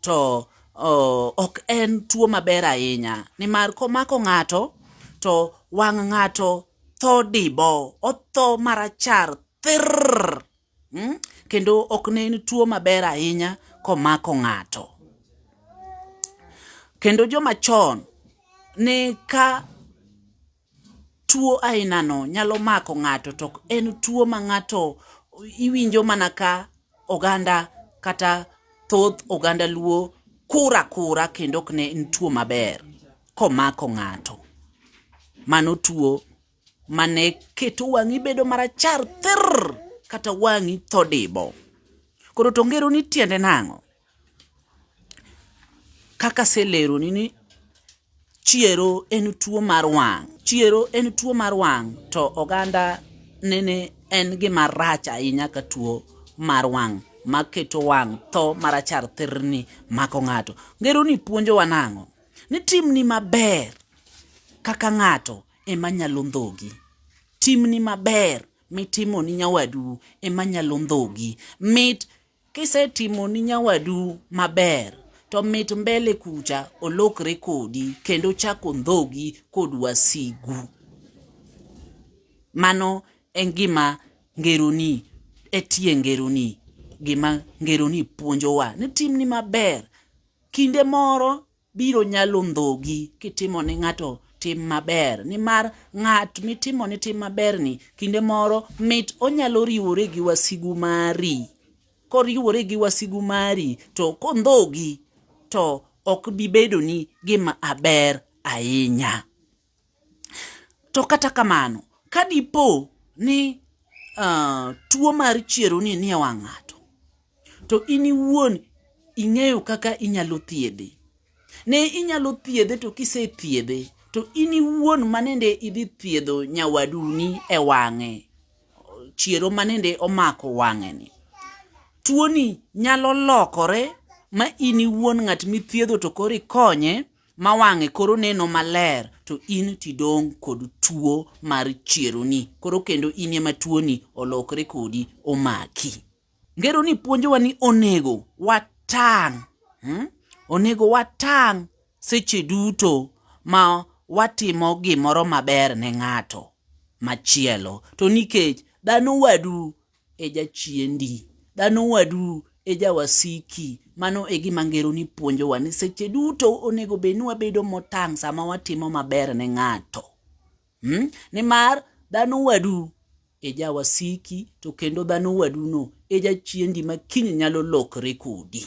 to ok en tuo maber ahinya nimar komako ng'ato to wang' ng'ato tho dibo, otho marachar thirr. Hmm? Kendo ok ne en tuo maber ahinya komako ng'ato. Kendo joma chon ne ka Tuo ainano nyalo mako ng'ato to ok en tuo ma ng'ato iwinjo mana ka oganda kata thoth oganda luo kur akura kendo ok en tuo maber komako ng'ato. Mano tuo mane keto wang'i bedo marachar thirr kata wang'i tho dibo. Koro to ngero ni tiende nang'o? Kaka aseleroni ni chiero en tuo mar wang', chiero en tuo mar wang' to oganda nene en gima rach ahinya ka tuo mar wang' maketo wang' tho marachar thirni mako ng'ato. Ngeroni puonjowa nang'o? Ni timni maber kaka ng'ato ema nyalo ndhogi. Timni maber mitimoni nyawadu ema nyalo ndhogi. Mit Kisetimoni nyawadu maber to mit mbele kucha olokre kodi kendo chako ndhogi kod wasigu. Mano en gima ngeroni etie ngeroni gima ngeroni puonjowa ni timni maber kinde moro biro nyalo ndhogi kitimo ne ng'ato tim maber nimar ng'at mitimo ne tim maberni kinde moro mit onyalo riwore gi wasigu mari koriwore gi wasigu mari to kondhogi to ok bibedoni gima aber ahinya. To kata kamano, ka dipo ni uh, tuo mar chieroni nie wang' ng'ato, to in iwuon ing'eyo kaka inyalo thiedhe. Ne inyalo thiedhe to kisethiedhe to in iwuon manende idhi thiedho nyawaduni e wang'e chiero manende omako wang'eni tuoni nyalo lokore ma in iwuon ng'at mithiedho to koro ikonye ma wang'e koro neno maler to in tidong' kod tuo mar chieroni koro kendo in ema tuoni olokre kodi omaki ngero ni puonjowa ni onego watang' hmm? onego watang' seche duto ma watimo gimoro maber ne ng'ato machielo to nikech dhano wadu e jachiendi, dhano wadu e jawasiki. Mano e gima ngeroni puonjowa ni seche duto onego bed ni wabedo motang' sama watimo maber ne ng'ato. Hmm? Nimar dhano wadu e jawasiki to kendo dhano waduno e jachiendi ma kiny nyalo lokre kodi.